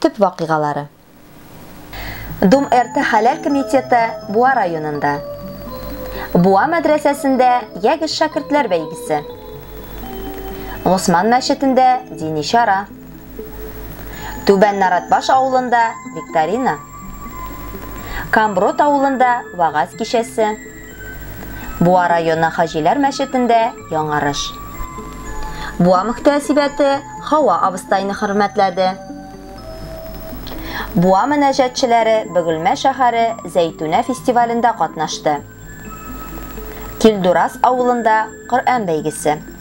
Төп вакыйгалары. Думэрты хәләл комитеты Буа районында. Буа мәдрәсәсендә ягез шәкертләр бәйгесе. Госман мәчетендә дини чара. Түбән Наратбаш авылында викторина. Камброд авылында вагаз кичәсе. Буа районы Хаҗиләр мәчетендә яңарыш. Буа мөхтәсибәте Хава абыстайны хөрмәтләде. Буа мөнәҗәтчеләре Бөгелмә шәһәре Зәйтүнә фестивалендә катнашты. Килдурас авылында Коръән бәйгесе.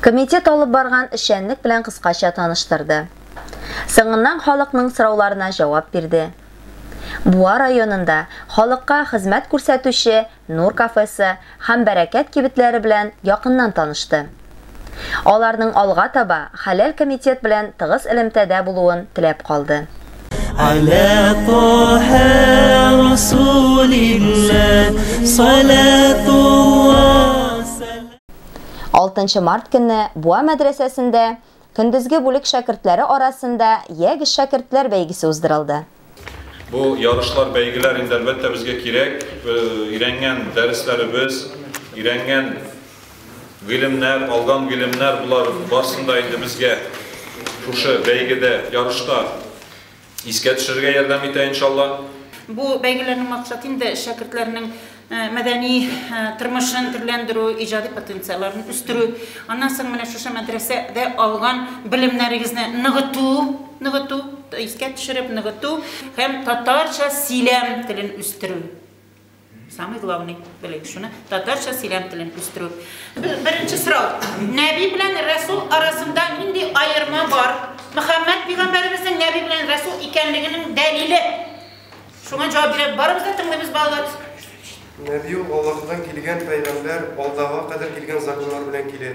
Комитет алып барган эшчәнлек белән кыскача таныштырды. Соңыннан халыкның сорауларына җавап бирде. Буа районында халыкка хезмәт күрсәтүче Нур кафесы һәм Бәрәкәт кибетләре белән якыннан танышты. Аларның алга таба Хәләл комитет белән тыгыз элемтәдә булуын теләп калды. Аля Таһа Расулиллаһ салатуллаһ 6 март көнне Буа мәдрәсәсендә көндезге бүлек шәкертләре арасында Ягез шәкертләр бәйгесе уздырылды. Бу ярышлар, бәйгеләр инде, әлбәттә, безгә кирәк. Өйрәнгән дәресләребез, өйрәнгән гыйлемнәр, алган гыйлемнәр, болар барсын да инде безгә шушы бәйгедә, ярышта Искә төшерергә ярдәм итә иншалла. Бу бәйгеләрнең максаты инде шәкертләрнең э, мәдәни э, тормышын төрләндерү, иҗади потенциалларын үстерү. Аннан соң менә шушы мәдрәсәдә алган белемнәрегезне ныгыту, ныгыту, искә төшереп ныгыту һәм татарча сөйләм телен үстерү. Самый главный белек шуны татарча сөйләм телен үстерү. Беренче сорау. Нәби белән Расул арасында нинди аерма бар? Мөхәммәд пигамбәребезнең Нәби белән Расул икәнлегенең дәлиле. Шуңа җавап биреп барыбыз да тыңлыйбыз балалар. Нәби ул Аллаһтан килгән пәйгамбәр, алдага кадәр килгән законнар белән килә.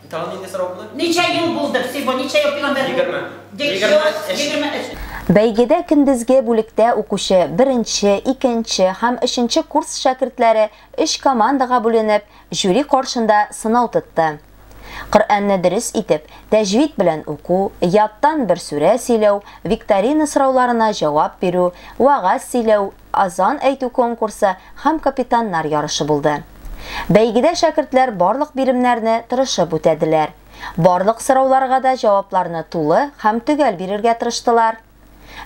Тагын нинди сорау булды? Ничә ел булды всего? Ничә ел пигамбәр? Егерме. Егерме өч. Бәйгедә көндезге бүлектә укучы беренче, икенче һәм өченче курс шәкертләре өч командага бүленеп, жюри каршында сынау тотты. Коръәнне дөрес итеп, тәҗвид белән уку, яттан бер сүрә сөйләү, викторина сорауларына җавап бирү, вәгазь сөйләү, азан әйтү конкурсы һәм капитаннар ярышы булды. Бәйгедә шәкертләр барлык биремнәрне тырышып үтәделәр, барлык сорауларга да җавапларны тулы һәм төгәл бирергә тырыштылар.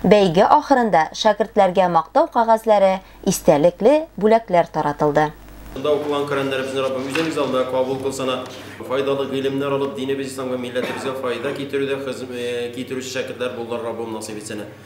Бәйге ахырында шәкертләргә мактау кәгазьләре, истәлекле бүләкләр таратылды. Шунда укыган Коръәннәребезне Раббым үзәк залда кабул кылсана. Файдалы гыйлемнәр алып, динебез Ислам һәм милләтебезгә файда китерүдә хезм китерүче шәкертләр булулар Раббым насыйп итсәнә.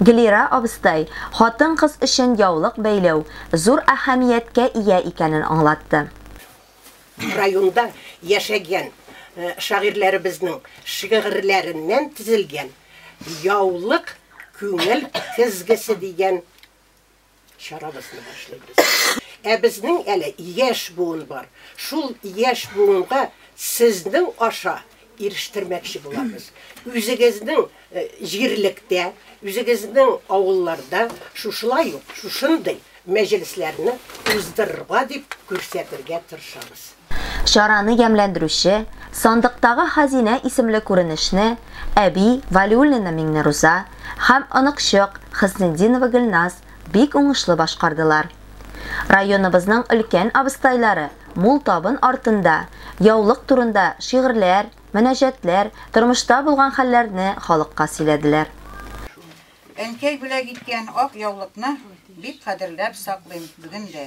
Глира абыстай хатын-кыз өчен яулык бәйләү зур әһәмияткә ия икәнен аңлатты. Районда яшәгән шагыйрьләребезнең шигырьләреннән төзелгән Яулык күңел көзгесе дигән чарабызны башлыйбыз. Ә безнең әле яшь буын бар. Шул яшь буынга сезнең аша ирештермәкче булабыз. Үзегезнең җирлектә, үзегезнең авылларда шушылай ук шушындый мәҗлесләрне уздырырга дип күрсәтергә тырышабыз. Чараны ямьләндерүче Сандыктагы хәзинә исемле күренешне әби Вәлиуллина Миңнеруза һәм оныкчык Хөснетдинова Гөлназ бик уңышлы башкардылар. Районыбызның өлкән абыстайлары мул табын артында яулык турында шигырьләр, мөнәҗәтләр, тормышта булган хәлләрне халыкка сөйләделәр. Әнкәй бүләк иткән ак яулыкны бик кадерләп саклыйм бүген дә.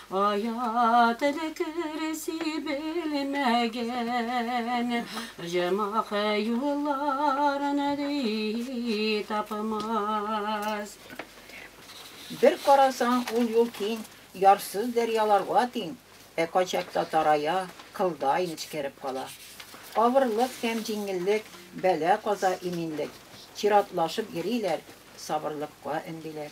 Кая теләкер сибелмәгән, Җомах юлларын ди тапмас. Бер карасаң, ул юл киң, Ярсыз дәрьяларга тиң, Ә кайчакта тарая, Кылдай нечкәреп кала. Авырлык һәм җиңеллек, Бәла-каза, иминлек, Чиратлашып йөриләр, Сабырлыкка өндиләр.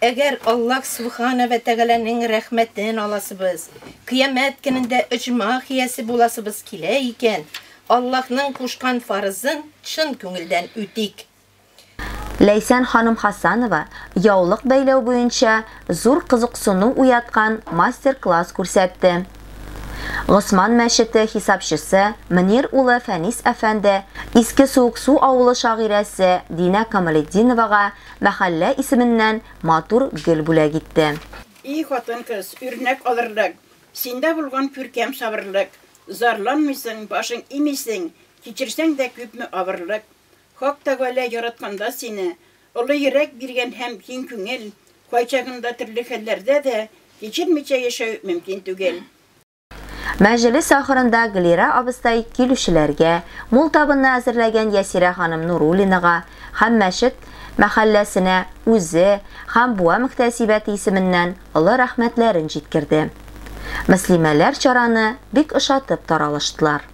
Әгәр Аллаһ Сүбхана вә Тәгаләнең рәхмәтен аласыбыз, Кыямәт көнендә оҗмах иясе буласыбыз килә икән, Аллаһның кушкан фарызын чын күңелдән үтик. Ләйсән ханым Хасанова яулык бәйләү буенча зур кызыксыну уяткан мастер-класс күрсәтте. Госман мәчете хисапчысы Мөнир улы Фәнис әфәнде Иске Суыксу авылы шагыйрәсе Динә Камалетдиновага Мәхәллә исеменнән матур гөл бүләк итте. И хатын-кыз, үрнәк алырлык. Синдә булган күркәм сабырлык. Зарланмыйсың, башың имисең. Кичерсәң дә күпме авырлык. Хак Тәгалә яратканда сине, Олы йөрәк биргән һәм киң күңел. Кайчагында төрле хәлләрдә дә Кичермичә яшәү мөмкин түгел. Мәҗлес ахырында Глира абыстай килүчеләргә, мул табынны әзерләгән Ясирә ханым Нуруллинага һәм Мәчет мәхәлләсенә үзе һәм Буа мөхтәсибәте исеменнән олы рәхмәтләрен җиткерде. Мөслимәләр чараны бик ошатып таралыштылар.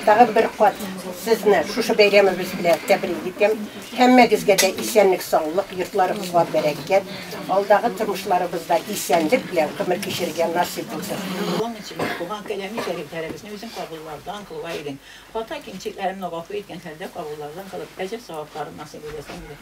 Тагын бер кат сезне шушы бәйрәмебез белән тәбрик итәм. Һәммәгезгә дә исәнлек, саулык, йортларыгызга бәрәкәт, алдагы тормышларыбызда исәнлек белән гомер кичерергә насыйп булсын. Дәвам итегез, туган каләми шәрифләребезне үзең кабуллардан кылуга илен. Хата-кимчекләремне гафу иткән хәлдә кабуллардан кылып, әҗер-савапларын насыйп итәсең иде.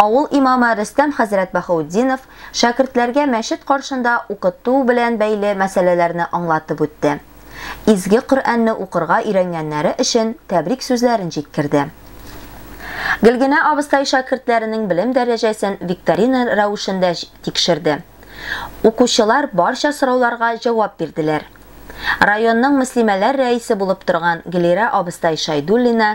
Авыл имамы Рөстәм хәзрәт Баһаутдинов шәкертләргә мәчет каршында укыту белән бәйле мәсьәләләрне аңлатып үтте. Изге Коръәнне укырга өйрәнгәннәре өчен тәбрик сүзләрен җиткерде. Гөлгенә абыстай шәкертләренең белем дәрәҗәсен викторина рәвешендә тикшерде. Укучылар барча сорауларга җавап бирделәр. Районның мөслимәләр рәисе булып торган Гөлирә абыстай Шайдуллина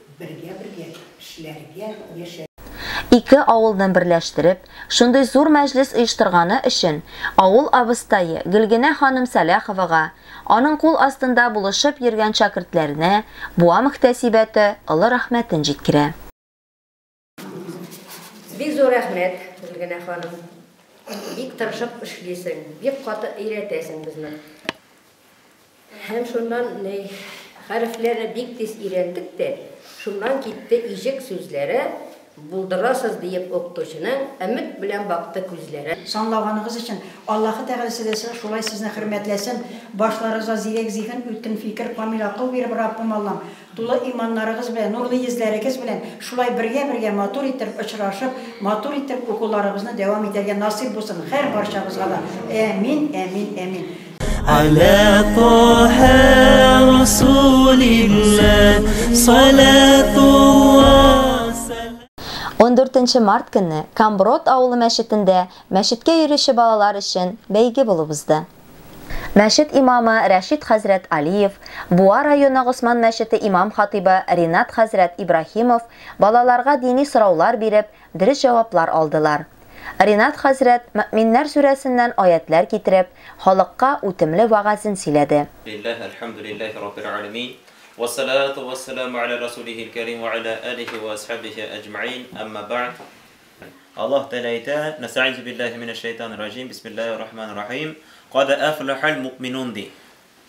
Бергә бергә эшләргә, яшәргә. Ике авылны берләштереп, шундый зур мәҗлес оештырганы өчен авыл абыстае Гөлгенә ханым Сәлаховага, аның кул астында булышып йөргән шәкертләренә Буа мөхтәсибәте олы рәхмәтен җиткерә. Бик зур рәхмәт, Гөлгенә ханым. Бик тырышып эшлисең, бик каты өйрәтәсең безне. Һәм шуннан ни хәрефләрне бик тиз өйрәндек тә, шуннан китте ижек сүзләре, булдырасыз диеп укытучының өмет белән бакты күзләре. Санлаганыгыз өчен Аллаһы Тәгалә сезә шулай сезне хөрмәтләсен, башларыгызга зирәк зиһен, үткен фикер, камил акыл биреп, Раббым Аллам, Тулы иманнарыгыз белән, нурлы йөзләрегез белән шулай бергә-бергә матур итеп очрашып, матур итеп укуларыбызны дәвам итәргә насыйп булсын һәр барчабызга да. Әәмин, әәмин, әәмин. Аля Тоһә Расулилла салатулла сәлам. Ундүртенче март көнне Камброд авылы мәчетендә мәчеткә йөрүче балалар өчен бәйге булып узды. Мәчет имамы Рәшит хәзрәт Алиев, Буа районы Госман мәчете имам-хатыйбы Ринат хәзрәт Ибраһимов балаларга дини сораулар биреп, дөрес җаваплар алдылар. Ринат хәзрәт Мөэминнәр сүрәсеннән аятьләр китереп, халыкка үтемле вәгазен сөйләде. Лилләһ, әлхәмдүлилләһи раббил әләмин, уәссәлату уәссәламү әлә рәсүлихил кәрим уә әлә әлихи уә асхәбихи әҗмәгыйн, әмма бәгъд. Аллаһ Тәгалә әйтә, Нәстәгизу биллаһи минәш шәйтанир раҗим, бисмиллаһир рахманир рахим, кад афлахал мукминун ди.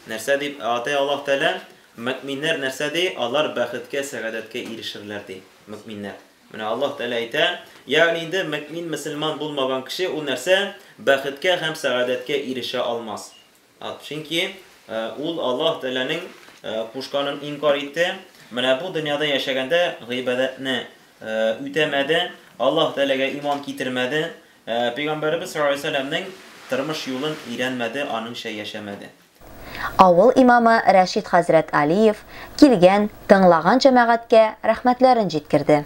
Нәрсә дип атый Аллаһ Тәгалә? Мөкминнәр нәрсә ди? Алар бәхеткә, сәгадәткә ирешерләр ди. Мөкминнәр. Менә Аллаһ Тәгалә әйтә, ягъни инде мөкмин, мөселман булмаган кеше ул нәрсә? Бәхеткә һәм сәгадәткә ирешә алмас. Чөнки ул Аллаһ Тәгаләнең кушканын инкарь итте, менә бу дөньяда яшәгәндә гыйбадәтне үтәмәде, Аллаһ Тәгаләгә иман китермәде, Пәйгамбәребез саллаллаһу галәйһи ва сәлләмнең тормыш юлын өйрәнмәде, аныңча яшәмәде. Авыл имамы Рәшит хәзрәт Алиев килгән, тыңлаган җәмәгатькә рәхмәтләрен җиткерде.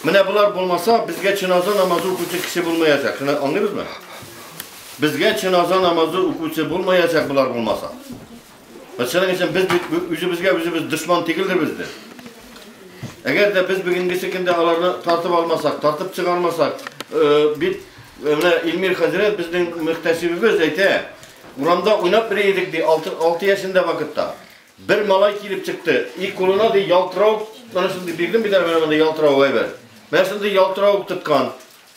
Менә болар булмаса, безгә чиназа намазы укучы кеше булмаячак. Шуны аңлыйбызмы? Безгә чиназа намазы укучы булмаячак болар булмаса. Шуның өчен без үзебезгә үзебез дошман түгелдер бездә. Әгәр дә без бүгенгесе көндә аларны тартып алмасак, тартып чыгармасак, бит менә Илмир хәзрәт безнең мөхтәсибебез әйтә, урамда уйнап йөри идек ди 6 яшендә вакытта. Бер малай килеп чыкты. И кулына ди ялтырау, менә шундый бирдем бит әле монда ялтырау әйбер. Менә шундый ялтырау тоткан.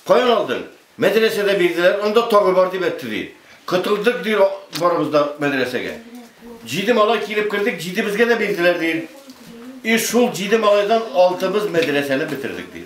Каян алдың? Мәдрәсәдә бирделәр, анда тагы бар дип әйтте ди. Котылдык ди барыбыз да мәдрәсәгә. Җиде малай килеп кердек, җидебезгә дә бирделәр ди. И шул җиде малайдан алтыбыз мәдрәсәне бетердек ди.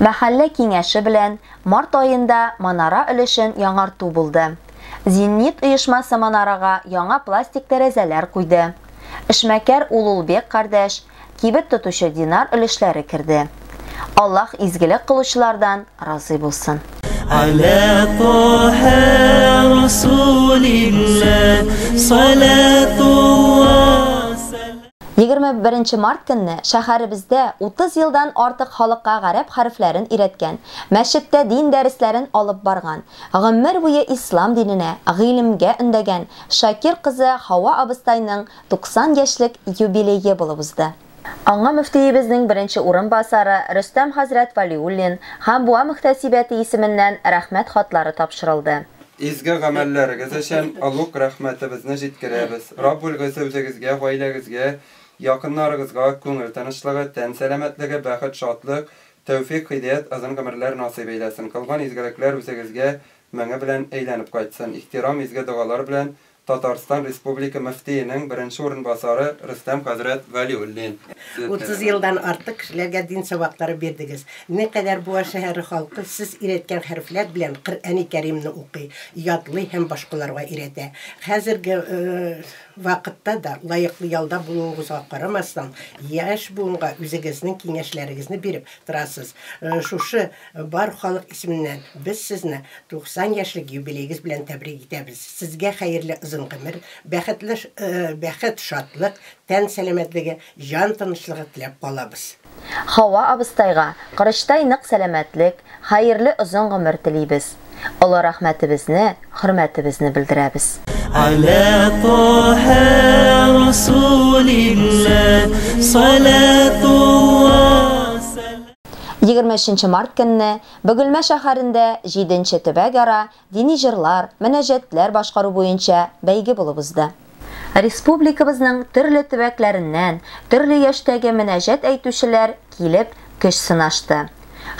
Мәхәллә киңәше белән март аенда манара өлешен яңарту булды. Зенит оешмасы манарага яңа пластик тәрәзәләр куйды. Эшмәкәр Улулбек кардәш, кибет тотучы Динар өлешләре керде. Аллаһ изгелек кылучылардан разый булсын. Аля Тоһә Расулилләһ салатуллаһ. Егерме беренче март көнне шәһәребездә 30 елдан артык халыкка гарәп хәрефләрен өйрәткән, мәчеттә дин дәресләрен алып барган, гомер буе ислам диненә, гыйлемгә өндәгән Шакир кызы Һава абыстайның 90 яшьлек юбилее булып узды. Аңа мөфтиебезнең беренче урынбасары Рөстәм хәзрәт Вәлиуллин һәм Буа мөхтәсибәте исеменнән Рәхмәт хатлары тапшырылды. Изге гамәлләрегез өчен олуг рәхмәтебезне җиткерәбез. Раббул Гыйззә үзегезгә, гаиләгезгә, якыннарыгызга күңел тынычлыгы, тән сәламәтлеге, бәхет, шатлык, тәүфик, һидәят, озын гомерләр насыйп әйләсен. Кылган изгелекләр үзегезгә меңе белән әйләнеп кайтсын. Ихтирам, изге догалар белән Татарстан Республика мөфтиенең беренче урынбасары Рөстәм хәзрәт Вәлиуллин. Утыз елдан артык кешеләргә дин сабаклары бирдегез. Не кадәр Буа шәһәре халкы сез өйрәткән хәрефләр белән Коръәни Кәримне укый, ятлый һәм башкаларга өйрәтә. Хәзерге вакытта да, лаеклы ялда булуыгызга карамастан, яшь буынга үзегезнең киңәшләрегезне биреп торасыз. Шушы Бар халык исеменнән без сезне 90 яшьлек юбилеегыз белән тәбрик итәбез. Сезгә хәерле озын гомер, бәхетле бәхет, шатлык, тән сәламәтлеге, җан тынычлыгы теләп калабыз. Хава абыстайга корычтай нык сәламәтлек, хәерле озын гомер телибез. Олы рәхмәтебезне, хөрмәтебезне белдерәбез. Аля Таһа Расулиллаһ салатуллаһ сәлам. Егерме өченче март көнне Бөгелмә шәһәрендә җиденче төбәкара дини җырлар, мөнәҗәтләр башкару буенча бәйге булып узды. Республикабызның төрле төбәкләреннән төрле яшьтәге мөнәҗәт әйтүчеләр килеп көч сынашты.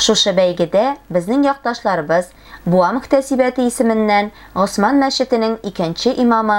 Шушы бәйгедә безнең якташларыбыз Буа мөхтәсибәте исеменнән Госман мәчетенең икенче имамы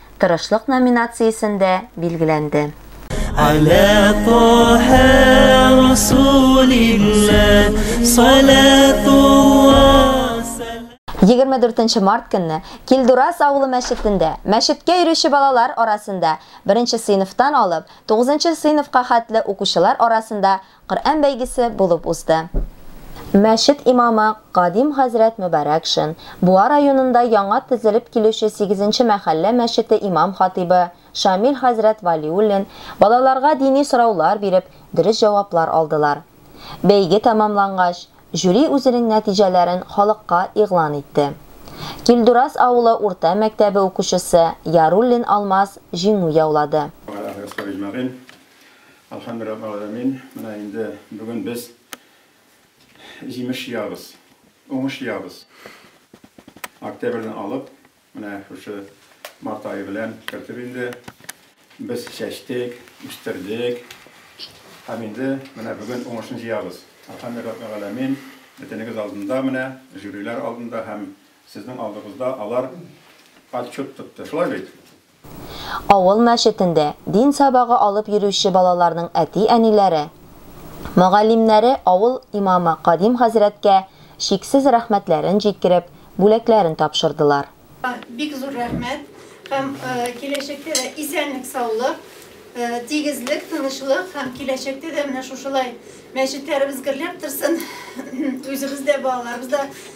Тырышлык номинациясендә билгеләнде. Аля Тоһә Расулилла салатулла Егерме дүртенче март көнне Килдурас авылы мәчетендә мәчеткә йөрүче балалар арасында беренче сыйныфтан алып тугызынчы сыйныфка хәтле укучылар арасында Коръән бәйгесе булып узды. Мәчет имамы Кадим хәзрәт Мөбарәкшин, Буа районында яңа төзелеп килүче сигезенче мәхәллә мәчете имам-хатыйбы Шамил хәзрәт Вәлиуллин балаларга дини сораулар биреп, дөрес җаваплар алдылар. Бәйге тәмамлангач, жюри үзенең нәтиҗәләрен халыкка игълан итте. Килдураз авылы урта мәктәбе укучысы Яруллин Алмаз җиңү яулады. Әлхәмдүраббелгаләмин, менә инде бүген без җимеш җыябыз, уңыш җыябыз. Октябрьне алып, менә шушы март ае белән кертеп инде без чәчтек, үстердек һәм инде менә бүген уңышны җыябыз. Әлхәмдүраббелгаләмин, бөтенегез алдында менә, жюрилар алдында һәм сезнең алдыгызда алар отчет тотты, шулай бит? Авыл мәчетендә дин сабагы алып йөрүче балаларның әти-әниләре, мөгаллимнәре авыл имамы Кадим хәзрәткә чиксез рәхмәтләрен җиткереп, бүләкләрен тапшырдылар. Бик зур рәхмәт һәм киләчәктә дә исәнлек-саулык, тигезлек, тынычлык һәм киләчәктә дә менә шушылай мәчетләребез гөрләп торсын, үзебез дә, балаларыбыз да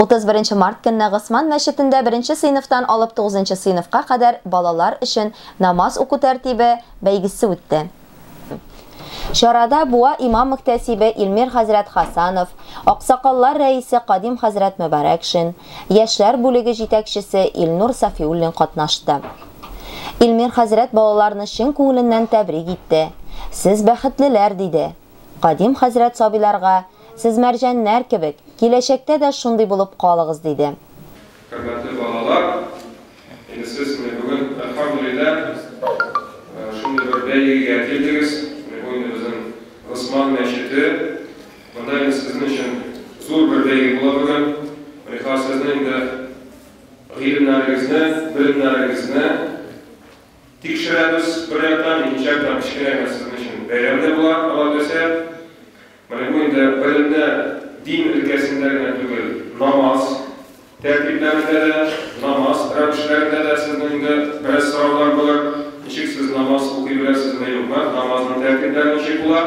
31 март көнне Госман мәчетендә беренче сыйныфтан алып тугызынчы сыйныфка кадәр балалар өчен намаз уку тәртибе бәйгесе үтте. Чарада Буа имам-мөхтәсибе Илмир хәзрәт Хасанов, аксакаллар рәисе Кадим хәзрәт Мөбарәкшин, яшьләр бүлеге җитәкчесе Илнур Сафиуллин катнашты. Илмир хәзрәт балаларны чын күңеленнән тәбрик итте. Сез бәхетлеләр, диде. Кадим хәзрәт сабыйларга Сез мәрҗәннәр кебек, киләчәктә дә шундый булып калыгыз, диде. Хөрмәтле балалар, инде сез менә бүген, әлхәмдүлилләһ, шундый бер бәйгегә килдегез. Менә бу инде безнең Госман мәчете. Монда инде сезнең өчен зур бер бәйге була бүген. Менә хәзер сезнең инде гыйлемнәрегезне, белемнәрегезне тикшерәбез, бер яктан, икенче яктан, кечкенә генә сезнең өчен бәйрәм дә була, Аллаһы теләсә. Менә бу инде гыйлемдә дин өлкәсендә генә түгел, намаз тәртипләрендә дә, намаз рәвешләрендә дә сезнең инде бераз сораулар булыр, ничек сез намаз укый беләсезме, юкмы, намазның тәртипләре ничек була?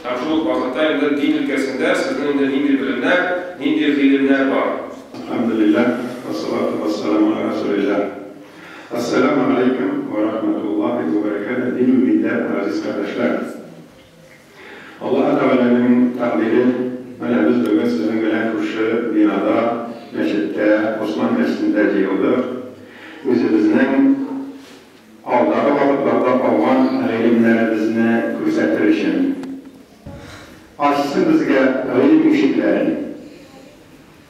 Һәм шул ук вакытта инде дин өлкәсендә сезнең инде нинди белемнәр, нинди гыйлемнәр бар? Әлхәмдүлилләһ, вәссалату вәссәламү галә рәсүлилләһ. Әссәләмү галәйкүм вә рахмәтуллаһи вә бәрәкәтүһ, дин-милләт газиз кардәшләр! Аллаһы Тәгаләнең тәкъдире, менә без бүген сезнең белән күрше бинада, мәчеттә, Госман мәчетендә җыелдык. Үзебезнең алдагы вакытларда алган гыйлемнәребезне күрсәтер өчен. Ачсын безгә гыйлем ишекләрен.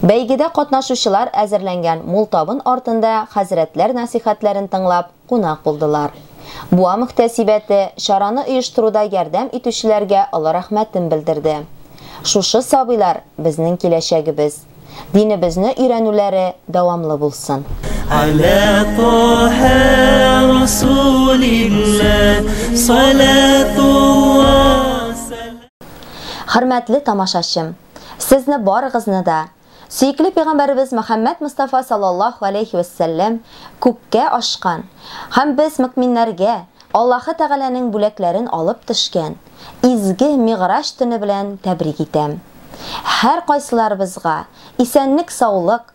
Бәйгедә катнашучылар әзерләнгән мул табын артында хәзрәтләр насыйхәтләрен тыңлап, кунак булдылар. Буа мөхтәсибәте чараны оештыруда ярдәм итүчеләргә олы рәхмәтен белдерде. Шушы сабыйлар, безнең киләчәгебез. Динебезне өйрәнүләре дәвамлы булсын. Аля Тоһа Расулилла салатулла сәлам. Хөрмәтле тамашачым! Сезне барыгызны да сөекле пәйгамбәребез Мөхәммәд Мостафа саллаллаһу галәйһи вә сәлләм күккә ашкан һәм без мөкминнәргә Аллаһы Тәгаләнең бүләкләрен алып төшкән изге Мигъраҗ төне белән тәбрик итәм. Һәркайсыларыбызга исәнлек-саулык,